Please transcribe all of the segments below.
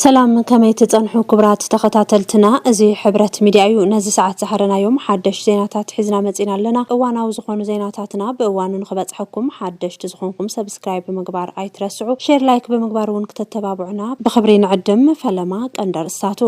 ሰላም ከመይ ትጸንሑ ክብራት ተኸታተልትና እዚ ሕብረት ሚድያ እዩ ነዚ ሰዓት ዝሃረናዮም ሓደሽ ዜናታት ሒዝና መጺና ኣለና እዋናዊ ዝኾኑ ዜናታትና ብእዋኑ ንኽበጽሐኩም ሓደሽቲ ዝኾንኩም ሰብስክራይብ ብምግባር ኣይትረስዑ ሼር ላይክ ብምግባር እውን ክተተባብዑና ብኽብሪ ንዕድም ፈለማ ቀንዲ ኣርእስታቱ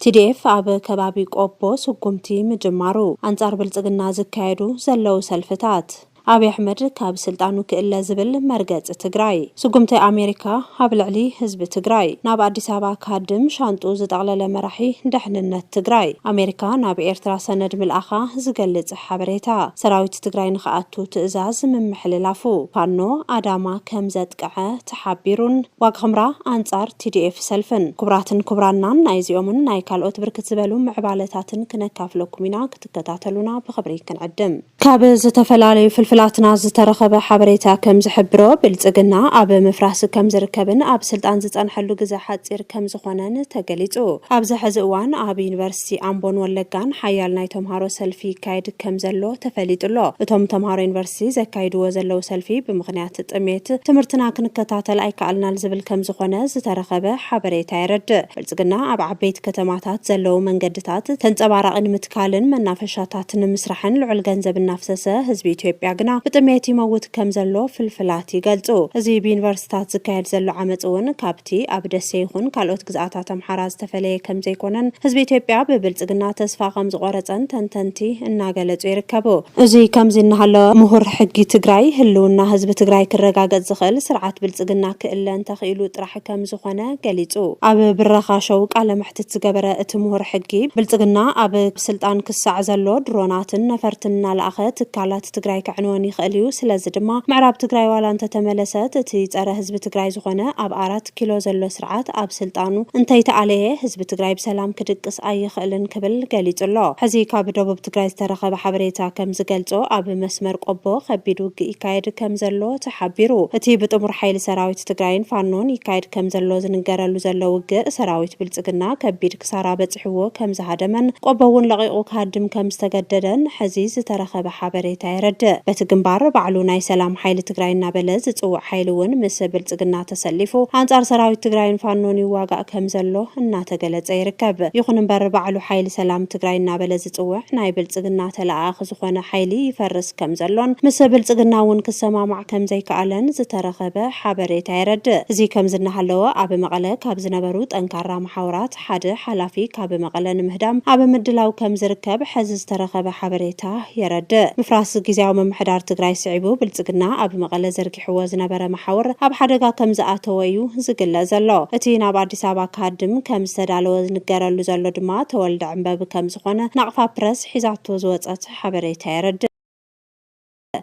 ቲዲኤፍ ኣብ ከባቢ ቆቦ ስጉምቲ ምጅማሩ፣ ኣንፃር ብልፅግና ዝካየዱ ዘለው ሰልፍታት፣ ኣብይ ኣሕመድ ካብ ስልጣኑ ክእለ ዝብል መርገፂ ትግራይ፣ ስጉምቲ ኣሜሪካ ኣብ ልዕሊ ህዝቢ ትግራይ፣ ናብ ኣዲስ ኣበባ ክሃድም ሻንጥኡ ዝጠቕለለ መራሒ ደሕንነት ትግራይ፣ ኣሜሪካ ናብ ኤርትራ ሰነድ ምልኣኻ ዝገልፅ ሓበሬታ፣ ሰራዊት ትግራይ ንክኣቱ ትእዛዝ ምምሕልላፉ፣ ፋኖ ኣዳማ ከምዘጥቀዐ ተሓቢሩን ዋግኽምራ ኣንፃር TDF ሰልፍን። ክቡራትን ክቡራናን ናይዚኦምን ናይ ካልኦት ብርክት ዝበሉ ምዕባለታትን ክነካፍለኩም ኢና ክትከታተሉና ብኽብሪ ክንዕድም። ካብ ዝተፈላለዩ ፍልፍላትና ዝተረኸበ ሓበሬታ ከም ዝሕብሮ ብልፅግና ኣብ ምፍራስ ከም ዝርከብን ኣብ ስልጣን ዝፀንሐሉ ግዘ ሓፂር ከም ዝኾነን ተገሊፁ። ኣብዚ ሐዚ እዋን ኣብ ዩኒቨርሲቲ። ዩኒቨርሲቲ ኣምቦን ወለጋን ሓያል ናይ ተምሃሮ ሰልፊ ይካየድ ከምዘሎ ተፈሊጡ ኣሎ። እቶም ተምሃሮ ዩኒቨርሲቲ ዘካይድዎ ዘለው ሰልፊ ብምኽንያት ጥሜት ትምህርትና ክንከታተል ኣይከኣልናል ዝብል ከምዝኾነ ዝተረኸበ ሓበሬታ የረድእ። ብልፅግና ኣብ ዓበይቲ ከተማታት ዘለው መንገድታት ተንፀባራቒ ንምትካልን መናፈሻታት ንምስራሕን ልዑል ገንዘብ እናፍሰሰ ህዝቢ ኢትዮጵያ ግና ብጥሜት ይመውት ከምዘሎ ፍልፍላት ይገልፁ። እዚ ብዩኒቨርሲታት ዝካየድ ዘሎ ዓመፅ እውን ካብ እቲ ኣብ ደሴ ይኹን ካልኦት ግዝኣታት ኣምሓራ ዝተፈለየ ከምዘይኮነን ህዝቢ ኢትዮጵያ ብብልፅግና ተስፋ ከምዝቖረፀን ተንተንቲ እናገለፁ ይርከቡ። እዚ ከምዚ እናሃለወ ምሁር ሕጊ ትግራይ ህልውና ህዝቢ ትግራይ ክረጋገፅ ዝኽእል ስርዓት ብልፅግና ክእለ እንተኽኢሉ ጥራሕ ከምዝኾነ ገሊፁ። ኣብ ብረኻ ሾው ቃለ መሕትት ዝገበረ እቲ ምሁር ሕጊ፣ ብልፅግና ኣብ ስልጣን ክሳዕ ዘሎ ድሮናትን ነፈርትን እናለኣኸ ትካላት፣ ትግራይ ከዕንወን ይኽእል እዩ ስለዚ ድማ ምዕራብ ትግራይ ዋላ እንተተመለሰት እቲ ፀረ ህዝቢ ትግራይ ዝኾነ ኣብ ኣራት ኪሎ ዘሎ ስርዓት ኣብ ስልጣኑ እንተይተኣለየ ህዝቢ ትግራይ ብሰላም ክድቅስ ኣይኽእልን ክብል ገሊፁ ኣሎ። ሕዚ ካብ ደቡብ ትግራይ ዝተረኸበ ሓበሬታ ከም ዝገልፆ ኣብ መስመር ቆቦ ከቢድ ውግእ ይካየድ ከም ዘሎ ተሓቢሩ። እቲ ብጥሙር ሓይሊ ሰራዊት ትግራይን ፋኖን ይካየድ ከም ዘሎ ዝንገረሉ ዘሎ ውግእ ሰራዊት ብልፅግና ከቢድ ክሳራ በጺሕዎ ከምዝሃደመን ቆቦ እውን ለቒቑ ክሃድም ከምዝተገደደን ሕዚ ዝተረኸበ ሓበሬታ የረድእ። በቲ ግንባር ባዕሉ ናይ ሰላም ሓይሊ ትግራይ እናበለ ዝጽውዕ ሓይሊ እውን ምስ ብልጽግና ተሰሊፉ ኣንጻር ሰራዊት ትግራይን ፋኖን ይዋጋእ ከምዘሎ እናተገለጸ ይርከብ። ይኹን እምበር ባዕሉ ሓይሊ ሰላም ትግራይ እናበለ ዝጽውዕ ናይ ብልጽግና ተለኣኣኺ ዝኾነ ሓይሊ ይፈርስ ከምዘሎን ምስ ብልጽግና እውን ክሰማማዕ ከምዘይከኣለን ዝተረኸበ ሓበሬታ የረድእ። እዚ ከምዚ እናሃለወ ኣብ መቐለ ካብ ዝነበሩ ጠንካራ መሓውራት ሓደ ሓላፊ ካብ መቐለ ንምህዳም ኣብ ምድላው ከምዝርከብ ሐዚ ዝተረኸበ ሓበሬታ የረድእ። ምፍራስ ጊዚያዊ ምምሕዳር ትግራይ ስዒቡ ብልፅግና ኣብ መቐለ ዘርጊሕዎ ዝነበረ መሓውር ኣብ ሓደጋ ከምዝኣተወ እዩ ዝግለፅ ዘሎ። እቲ ናብ ኣዲስ ኣበባ ክሃድም ከምዝተዳለወ ዝንገረሉ ዘሎ ድማ ተወልደ ዕንበብ ከምዝኾነ ናቕፋ ፕረስ ሒዛቶ ዝወፀት ሓበሬታ የረድእ።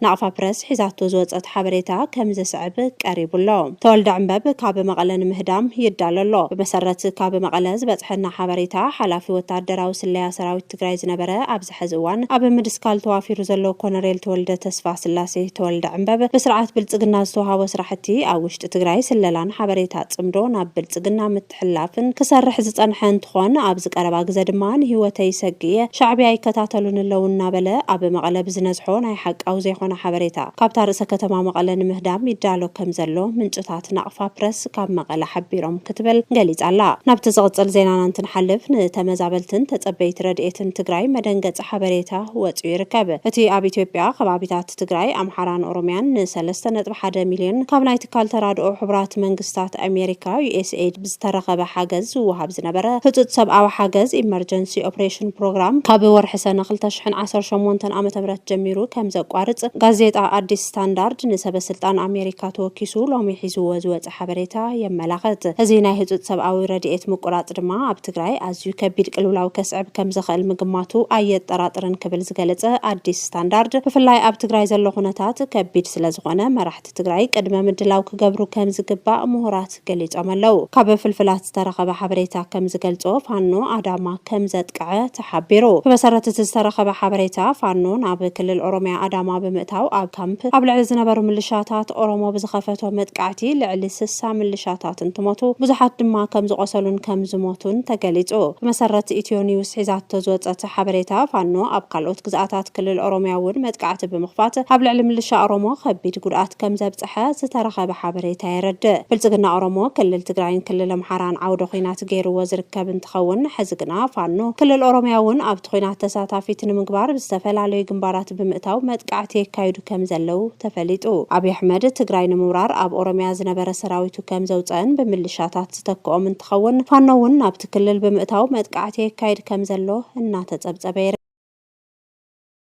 ናቕፋ ፕረስ ሒዛቶ ዝወጸት ሓበሬታ ከም ዝስዕብ ቀሪቡ ኣሎ። ተወልደ ዕንበብ ካብ መቐለ ንምህዳም ይዳሎ ኣሎ። ብመሰረት ካብ መቐለ ዝበጽሐና ሓበሬታ፣ ሓላፊ ወተሃደራዊ ስለያ ሰራዊት ትግራይ ዝነበረ ኣብዚ ሐዚ እዋን ኣብ ምድስካል ተዋፊሩ ዘሎ ኮነሬል ተወልደ ተስፋስላሴ፣ ተወልደ ዕንበብ፣ ብስርዓት ብልጽግና ዝተውሃቦ ስራሕቲ ኣብ ውሽጢ ትግራይ ስለላን ሓበሬታ ጽምዶ ናብ ብልጽግና ሕላፍን ክሰርሕ ዝጸንሐ እንትኾን ኣብዚ ቀረባ ግዘ ድማ ንህይወተይ ይሰግእ'የ፣ ሻዕብያ ይከታተሉኒ ኣለው እናበለ ኣብ መቐለ ብዝነዝሖ ናይ ሓቃዊ ዘይኾነ ሓበሬታ ካብታ ርእሰ ከተማ መቐለ ንምህዳም ይዳሎ ከምዘሎ ምንጭታት ናቕፋ ፕረስ ካብ መቐለ ሓቢሮም ክትብል ገሊጻ'ላ። ናብቲ ዝቕጽል ዜናና እንትንሓልፍ ንተመዛበልትን ተጸበይቲ ረድኤትን ትግራይ መደንገጺ ሓበሬታ ወጺኡ ይርከብ። እቲ ኣብ ኢትዮጵያ ከባቢታት። ብሄራት ትግራይ፣ ኣምሓራን ኦሮሚያን ን ሰለስተ ነጥቢ ሓደ ሚልዮን ካብ ናይ ትካል ተራድኦ ሕቡራት መንግስታት ኣሜሪካ፣ USAID፣ ብዝተረኸበ ሓገዝ ዝወሃብ ዝነበረ ህፁፅ ሰብኣዊ ሓገዝ፣ ኢመርጀንሲ ኦፕሬሽን ፕሮግራም፣ ካብ ወርሒ ሰነ ክልተ ሽሕን ዓሰርተ ሸሞንተን ዓመተ ምህረት ጀሚሩ ከምዘቋርፅ ጋዜጣ ኣዲስ ስታንዳርድ ንሰበስልጣን ኣሜሪካ ተወኪሱ ሎሚ ሒዝዎ ዝወፀ ዝወጸ ሓበሬታ የመላኽት። እዚ ናይ ህጹጽ ሰብኣዊ ረድኤት ምቁራጽ ድማ ኣብ ትግራይ ኣዝዩ ከቢድ ቅልውላው ከስዕብ ከም ዝኽእል ምግማቱ ኣየጠራጥርን ክብል ዝገለጸ ኣዲስ ስታንዳርድ፣ ብፍላይ ኣብ ትግራይ ዘሎ ኩነታት ከቢድ ስለ ዝኾነ መራሕቲ ትግራይ ቅድመ ምድላው ክገብሩ ከም ዝግባእ ምሁራት ገሊጾም ኣለው። ካብ ፍልፍላት ዝተረኸበ ሓበሬታ ከም ዝገልጾ ፋኖ ኣዳማ ከም ዘጥቀዐ ሓቢሩ። ብመሰረት እቲ ዝተረኸበ ሓበሬታ፣ ፋኖ ናብ ክልል ኦሮሚያ ኣዳማ ብምእታው ኣብ ካምፕ ኣብ ልዕሊ ዝነበሩ ምልሻታት ኦሮሞ ብዝኸፈቶ መጥቃዕቲ ልዕሊ ስሳ ምልሻታት እንትሞቱ ብዙሓት ድማ ከምዝቖሰሉን ከምዝሞቱን ተገሊፁ። ብመሰረት ኢትዮ ኒውስ ሒዛቶ ዝወፀት ሓበሬታ፣ ፋኖ ኣብ ካልኦት ግዝኣታት ክልል ኦሮሚያ እውን መጥቃዕቲ ብምኽፋት ኣብ ልዕሊ ምልሻ ኦሮሞ ከቢድ ጉድኣት ከምዘብፀሐ ዝተረኸበ ሓበሬታ የረድእ። ብልፅግና ኦሮሞ ክልል ትግራይን ክልል ኣምሓራን ዓውደ ኹናት መሰረት ገይርዎ ዝርከብ እንትኸውን፣ ሕዚ ግና ፋኖ ክልል ኦሮሚያ እውን ኣብቲ ኹናት ተሳታፊት ንምግባር ብዝተፈላለዩ ግንባራት ብምእታው መጥቃዕቲ የካይዱ ከምዘለው ተፈሊጡ። ኣብይ ኣሕመድ ትግራይ ንምውራር ኣብ ኦሮሚያ ዝነበረ ሰራዊቱ ከምዘውፀእን ብምልሻታት ዝተክኦም እንትኸውን፣ ፋኖ እውን ናብቲ ክልል ብምእታው መጥቃዕቲ የካይድ ከምዘሎ እናተፀብፀበ ይርከብ።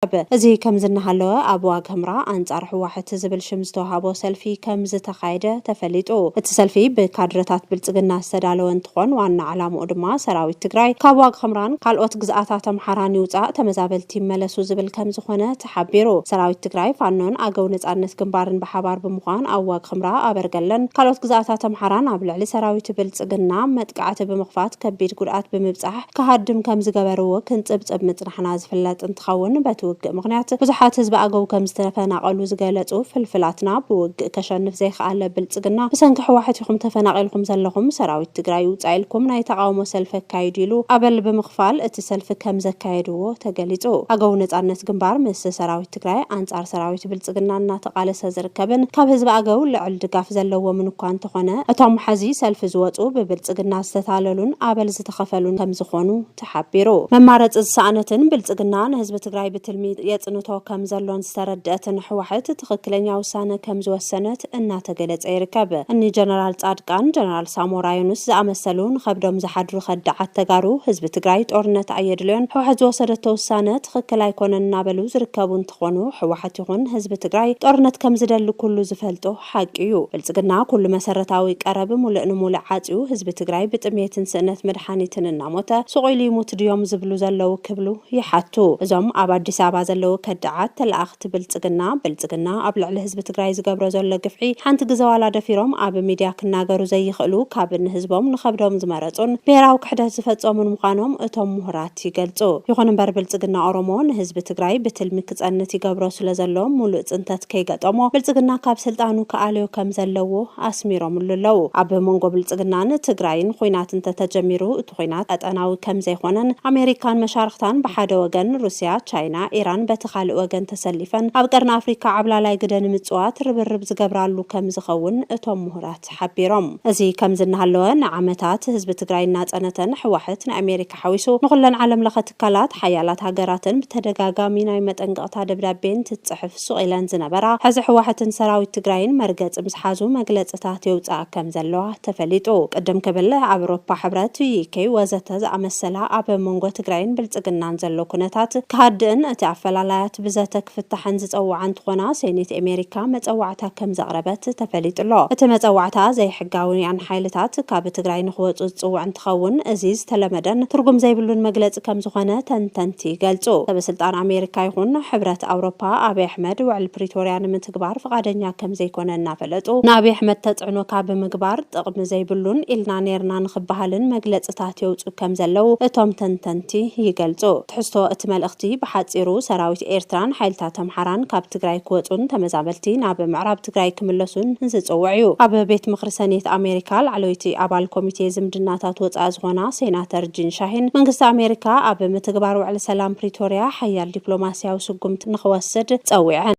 ኣቕረበ። እዚ ከምዚ እናሃለወ ኣብ ዋግ ህምራ ኣንጻር ህዋሕት ዝብል ሽም ዝተውሃቦ ሰልፊ ከም ዝተኻየደ ተፈሊጡ። እቲ ሰልፊ ብካድረታት ብልጽግና ዝተዳለወ እንትኾን ዋና ዕላምኡ ድማ ሰራዊት ትግራይ ካብ ዋግ ኽምራን ካልኦት ግዝኣታት ኣምሓራን ይውጻእ ተመዛበልቲ ይመለሱ ዝብል ከም ዝኾነ ተሓቢሩ። ሰራዊት ትግራይ፣ ፋኖን ኣገው ነጻነት ግንባርን ብሓባር ብምዃን ኣብ ዋግ ኽምራ፣ ኣበርገለን ካልኦት ግዝኣታት ኣምሓራን ኣብ ልዕሊ ሰራዊት ብልጽግና መጥቃዕቲ ብምኽፋት ከቢድ ጉድኣት ብምብጻሕ ክሃድም ከም ዝገበርዎ ክንጽብጽብ ምጽናሕና ዝፍለጥ እንትኸውን፣ በቲ ውግእ ምኽንያት ብዙሓት ህዝቢ ኣገው ከምዝተፈናቐሉ ዝገለጹ ፍልፍላትና፣ ብውግእ ከሸንፍ ዘይኸኣለ ብልጽግና ብሰንኪ ሕዋሕት ኢኹም ተፈናቒልኩም ዘለኹም፣ ሰራዊት ትግራይ ይውጻእ ኢልኩም ናይ ተቓውሞ ሰልፊ ኣካይዱ ኢሉ ኣበል ብምኽፋል እቲ ሰልፊ ከምዘካየድዎ ተገሊጹ። ኣገው ነጻነት ግንባር ምስ ሰራዊት ትግራይ ኣንጻር ሰራዊት ብልጽግና እናተቓለሰ ዝርከብን ካብ ህዝቢ ኣገው ልዕል ድጋፍ ዘለዎምን እኳ እንተኾነ፣ እቶም ሐዚ ሰልፊ ዝወጹ ብብልጽግና ዝተታለሉን ኣበል ዝተኸፈሉን ከምዝኾኑ ተሓቢሩ። መማረፂ ዝሰኣነትን ብልፅግና ንህዝቢ ትግራይ ብትልሚ የፅንቶ ከም ዘሎን ዝተረደኣትን ሕዋሕት ትኽክለኛ ውሳነ ከም ዝወሰነት እናተገለፀ ይርከብ። እኒ ጀነራል ፃድቃን፣ ጀነራል ሳሞራ ዮኑስ ዝኣመሰሉ ንኸብዶም ዝሓድሩ ከዳዓት ተጋሩ ህዝቢ ትግራይ ጦርነት ኣየድልዮን ሕዋሕት ዝወሰደቶ ውሳነ ትኽክል ኣይኮነን እናበሉ ዝርከቡ እንትኾኑ ሕዋሕት ይኹን ህዝቢ ትግራይ ጦርነት ከም ዝደሊ ኩሉ ዝፈልጦ ሓቂ እዩ ብልፅግና ኩሉ መሰረታዊ ቀረብ ሙልእ ንሙልእ ዓፅዩ ህዝቢ ትግራይ ብጥምየትን ስእነት መድሓኒትን እናሞተ ሱቕ ኢሉ ይሙት ድዮም ዝብሉ ዘለዉ ክብሉ ይሓቱ እዞም ኣብ ኣዲስ ኣበባ ዘለዉ ከዳዓት ተላኣኽቲ ብልፅግና ብልፅግና ኣብ ልዕሊ ህዝቢ ትግራይ ዝገብሮ ዘሎ ግፍዒ ሓንቲ ግዘ ዋላ ደፊሮም ኣብ ሚድያ ክናገሩ ዘይኽእሉ ካብ ንህዝቦም ንኸብዶም ዝመረፁን ብሄራዊ ክሕደት ዝፈፀሙን ምዃኖም እቶም ሙሁራት ይገልጹ። ይኹን እምበር ብልጽግና ኦሮሞ ንህዝቢ ትግራይ ብትልሚ ክጸንት ይገብሮ ስለዘሎ ሙሉእ ጽንተት ከይገጠሞ ብልጽግና ካብ ስልጣኑ ክኣልዮ ከምዘለዎ ኣስሚሮምሉ ኣለው። ኣብ መንጎ ብልጽግናን ትግራይን ኹናት እንተተጀሚሩ እቲ ኹናት ቀጠናዊ ከምዘይኾነን ኣሜሪካን መሻርኽታን ብሓደ ወገን ሩስያ፣ ቻይና፣ ኢራን በቲ ካልእ ወገን ተሰሊፈን ኣብ ቀርኒ ኣፍሪካ ዓብላላይ ግደ ንምጽዋት ርብርብ ዝገብራሉ ከምዝኸውን እቶም ሙሁራት ሓቢሮም። እዚ ከምዚ እናሃለወ ንዓመታት ህዝቢ ትግራይ እናጸነተን ሕዋሕት ንኣሜሪካ፣ ሓዊሱ ንኹለን ዓለም ለኸ ትካላት፣ ሓያላት ሃገራትን ብተደጋጋሚ ናይ መጠንቀቕታ ደብዳቤ እንትትጽሕፍ ሱቕ ኢለን ዝነበራ፣ ሕዚ ሕዋሕትን ሰራዊት ትግራይን መርገጺ ምስ ሓዙ መግለጽታት የውጽኣ ከም ዘለዋ ተፈሊጡ። ቅድም ክብል ኣብ ኤሮፓ ሕብረት፣ UK፣ ወዘተ ዝኣመሰላ ኣብ መንጎ ትግራይን ብልጽግናን ዘሎ ኩነታት ክሃድእን እቲ ኣፈላላያት ብዘተ ክፍታሕን ዝጸውዓ እንትኾና ሴኔት ኤሜሪካ መጸዋዕታ ከም ዘቕረበት ተፈሊጡ'ሎ። እቲ መጸዋዕታ ዘይ ሕጋውያን ሓይልታት ካብ ትግራይ ንኽወፁ ዝፅውዕ እንትኸውን እዚ ዝተለመደን ትርጉም ዘይብሉን መግለፂ ከምዝኾነ ተንተንቲ ይገልፁ። ሰበስልጣን ኣሜሪካ ይኹን ሕብረት ኣውሮፓ ኣብይ ኣሕመድ ውዕል ፕሪቶርያ ንምትግባር ፍቓደኛ ከምዘይኮነ እናፈለጡ ንኣብይ ኣሕመድ ተፅዕኖ ካብ ምግባር ጥቕሚ ዘይብሉን ኢልና ነይርና ንኽበሃልን መግለፅታት የውፅኡ ከምዘለው እቶም ተንተንቲ ይገልፁ። ትሕዝቶ እቲ መልእኽቲ ብሓፂሩ ሰራዊት ኤርትራን ሓይልታት ኣምሓራን ካብ ትግራይ ክወፁን ተመዛበልቲ ናብ ምዕራብ ትግራይ ክምለሱን ዝፅውዕ እዩ። ኣብ ቤት ምኽሪ ሰኔት ኣሜሪካ ላዕለወይቲ ኣባል ኮሚቴ ዝምድናታት ወፃኢ ዝኾና ሴናተር ጂን ሻሂን፣ መንግስቲ ኣሜሪካ ኣብ ምትግባር ውዕሊ ሰላም ፕሪቶሪያ ሓያል ዲፕሎማሲያዊ ስጉምቲ ንኽወስድ ፀዊዐን።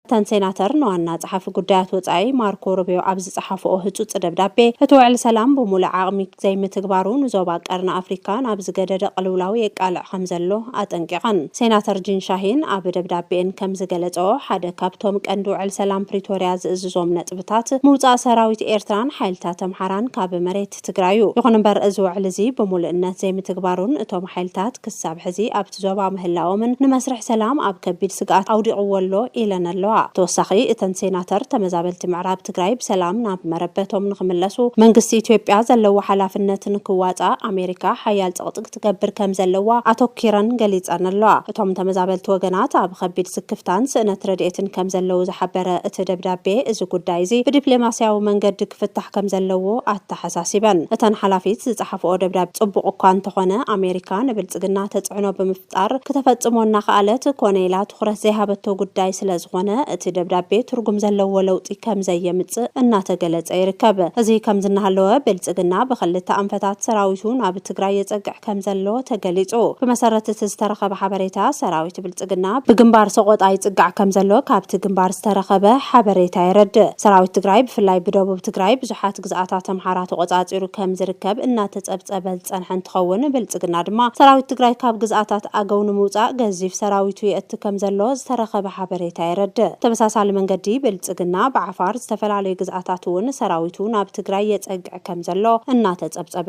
እተን ሴናተር ንዋና ፀሓፊ ጉዳያት ወፃኢ ማርኮ ሩቢዮ ኣብ ዝፀሓፍኦ ህፁፅ ደብዳቤ፣ እቲ ውዕሊ ሰላም ብሙሉእ ዓቕሚ፣ ዘይምትግባሩ ንዞባ ቀርኒ ኣፍሪካ ናብ ዝገደደ ቅልውላው የቃልዕ ከምዘሎ ኣጠንቂቐን። ሴናተር ጂን ሻሂን ኣብ ደብዳቤኤን ከምዝገለፀኦ ሓደ ካብቶም ቀንዲ ውዕል ሰላም ፕሪቶሪያ ዝእዝዞም ነጥብታት ምውፃእ ሰራዊት ኤርትራን ሓይልታት ኣምሓራን ካብ መሬት ትግራይ ዩ። ይኹን እምበር እዚ ውዕል እዚ ብሙሉእነት ዘይምትግባሩን እቶም ሓይልታት ክሳብ ሕዚ ኣብ ኣብቲ ዞባ ምህላዎምን ንመስርሕ ሰላም ኣብ ከቢድ ስግኣት ኣውዲቕዎ ኣሎ ኢለን ኣለዋ። ብተወሳኺ እተን ሴናተር ተመዛበልቲ ምዕራብ ትግራይ ብሰላም ናብ መረበቶም ንኽምለሱ መንግስቲ ኢትዮጵያ ዘለዎ ሓላፍነት ንክዋፃእ ኣሜሪካ ሓያል ፅቕጢ ክትገብር ከምዘለዋ ኣተኲረን ገሊፀን ኣለዋ። እቶም ተመዛበልቲ ወገናት ኣብ ኸቢድ ስክፍታን ስእነት ረድኤትን ከምዘለዉ ዝሓበረ እቲ ደብዳቤ እዚ ጉዳይ እዚ ብዲፕሌማሲያዊ መንገዲ ክፍታሕ ከምዘለዎ ኣተሓሳሲበን። እተን ሓላፊት ዝፀሓፍኦ ደብዳቤ ፅቡቕ እኳ እንተኾነ ኣሜሪካ ንብልፅግና ብልፅግና ተፅዕኖ ብምፍጣር ክተፈፅሞ እናኸኣለት ኮነ ኢላ ትኹረት ዘይሃበቶ ጉዳይ ስለዝኾነ እቲ ደብዳቤ ትርጉም ዘለዎ ለውጢ ከምዘየምፅእ እናተገለፀ ይርከብ። እዚ ከምዚ እናሃለወ ብልፅግና ብኽልተ ኣንፈታት ሰራዊቱ ናብ ትግራይ የፀግዕ ከምዘሎ ተገሊፁ። ብመሰረት እቲ ዝተረኸበ ሓበሬታ ሰራዊት ብልፅግና ብግንባር ሰቖጣ ይፅጋዕ ከምዘሎ ካብቲ ግንባር ዝተረኸበ ሓበሬታ የረድእ። ሰራዊት ትግራይ ብፍላይ ብደቡብ ትግራይ ብዙሓት። ግዝኣታት ኣምሓራ ተቖፃፂሩ ከም ዝርከብ እናተፀብፀበ ዝፀንሐ እንትኸውን፣ ብልፅግና ድማ ሰራዊት ትግራይ ካብ ግዝኣታት ኣገው ንምውፃእ ገዚፍ ሰራዊቱ የእቲ ከም ዘሎ ዝተረኸበ ሓበሬታ የረድእ። ብተመሳሳሊ መንገዲ ብልፅግና ብዓፋር ዝተፈላለዩ ግዝኣታት እውን ሰራዊቱ ናብ ትግራይ የፀግዕ ከም ዘሎ እናተፀብፀበ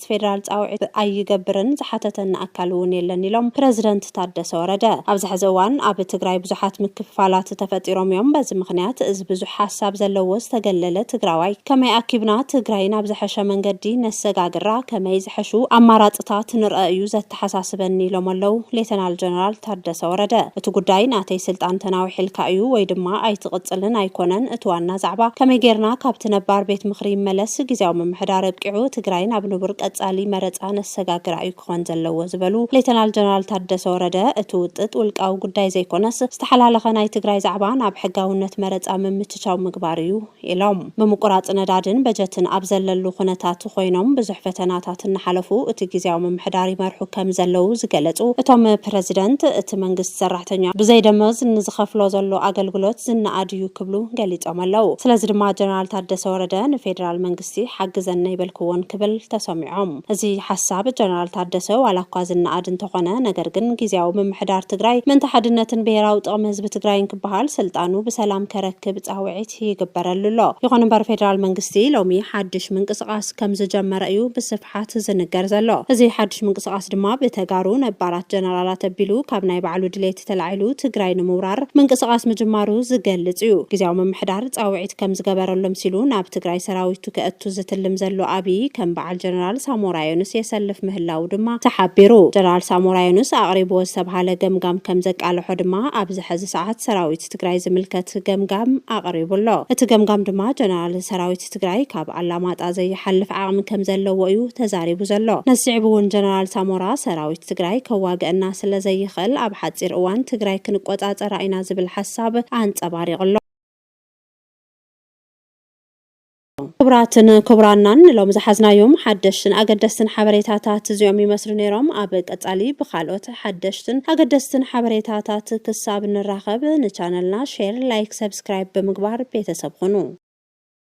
መንግስቲ ፌደራል ፃውዒት ኣይገብርን ዝሓተተኒ ኣካል እውን የለን ኢሎም ፕረዚደንት ታደሰ ወረደ። ኣብዚ ሐዚ እዋን ኣብ ትግራይ ብዙሓት ምክፍፋላት ተፈጢሮም እዮም። በዚ ምኽንያት እዚ ብዙሕ ሓሳብ ዘለዎ ዝተገለለ ትግራዋይ ከመይ ኣኪብና ትግራይ ናብ ዝሐሸ መንገዲ ነሰጋግራ፣ ከመይ ዝሐሹ ኣማራፅታት ንርኣ እዩ ኣተሓሳስበኒ ኢሎም ኣለው ሌተናል ጀነራል ታደሰ ወረደ። እቲ ጉዳይ ናተይ ስልጣን ተናዊሕልካ እዩ ወይ ድማ ኣይትቕፅልን ኣይኮነን እቲ ዋና ዛዕባ ከመይ ገይርና ካብቲ ነባር ቤት ምኽሪ ይመለስ፣ ግዝያዊ ምምሕዳር ኣብቂዑ ትግራይ ናብ ንቡር ቀፃሊ መረፃ ነሰጋግራ እዩ ክኾን ዘለዎ ዝበሉ ሌተናል ጀነራል ታደሰ ወረደ እቲ ውጥጥ ውልቃዊ ጉዳይ ዘይኮነስ ዝተሓላለኸ ናይ ትግራይ ዛዕባ ናብ ሕጋውነት መረፃ ምምችቻው ምግባር እዩ ኢሎም። ምምቁራፅ ነዳድን በጀትን ኣብ ዘለሉ ኩነታት ኾይኖም ብዙሕ ፈተናታት እናሓለፉ እቲ ጊዚያዊ ምምሕዳር ይመርሑ ከም ዘለዉ ዝገለፁ እቶም ፕረዚደንት፣ እቲ መንግስቲ ሰራሕተኛ ብዘይ ደሞዝ ንዝኸፍሎ ዘሎ ኣገልግሎት ዝነኣድ እዩ ክብሉ ገሊፆም ኣለው። ስለዚ ድማ ጀነራል ታደሰ ወረደ ንፌዴራል መንግስቲ፣ መንግስቲ ሓግዘኒ ኣይበልክዎን ክብል ተሰሚዖም። እዚ ሓሳብ ጀነራል ታደሰ ዋላ እኳ ዝነኣድ እንተኾነ ነገር ግን ጊዚያዊ ምምሕዳር ትግራይ ምእንተ ሓድነትን ብሄራዊ ጥቕሚ ህዝቢ ትግራይን ክበሃል ስልጣኑ ብሰላም ከረክብ ፃውዒት ይግበረሉ ኣሎ። ይኹን እምበር ፌደራል መንግስቲ ሎሚ ሓድሽ ምንቅስቓስ ከምዝጀመረ እዩ ብስፍሓት ዝንገር ዘሎ። እዚ ሓድሽ ምንቅስቓስ ድማ ብተጋሩ ነባራት ጀነራላት ኣቢሉ ካብ ናይ ባዕሉ ድሌት ተላዒሉ ትግራይ ንምውራር ምንቅስቓስ ምጅማሩ ዝገልፅ እዩ። ጊዚያዊ ምምሕዳር ፃውዒት ጸሎት ከምዝገበረሎም ሲሉ ናብ ትግራይ ሰራዊቱ ከእቱ ዝትልም ዘሎ ኣብይ ከም በዓል ጀነራል ሳሞራ የኑስ የሰልፍ ምህላዉ ድማ ተሓቢሩ። ጀነራል ሳሞራ የኑስ ኣቕሪብዎ ዝተብሃለ ገምጋም ከምዘቃለሖ ድማ ኣብዚ ሐዚ ሰዓት ሰራዊት ትግራይ ዝምልከት ገምጋም ኣቕሪቡ ኣሎ። እቲ ገምጋም ድማ ጀነራል ሰራዊት ትግራይ ካብ ኣላማጣ ዘይሓልፍ ዓቕሚ ከምዘለዎ እዩ ተዛሪቡ ዘሎ። ነዚ ስዒቡ እውን ጀነራል ሳሞራ ሰራዊት ትግራይ ከዋግኣና ስለዘይኽእል ኣብ ሓፂር እዋን ትግራይ ክንቆፃፀራ ኢና ዝብል ሓሳብ ኣንፀባሪቑ ኣሎ። ክቡራትን ክቡራናን ንሎሚ ዝሓዝናዮም ሓደሽትን ኣገደስትን ሓበሬታታት እዚኦም ይመስሉ ነይሮም። ኣብ ቀጻሊ ብካልኦት ሓደሽትን ኣገደስትን ሓበሬታታት ክሳብ ንራኸብ ንቻነልና ሼር፣ ላይክ፣ ሰብስክራይብ ብምግባር ቤተሰብ ኹኑ።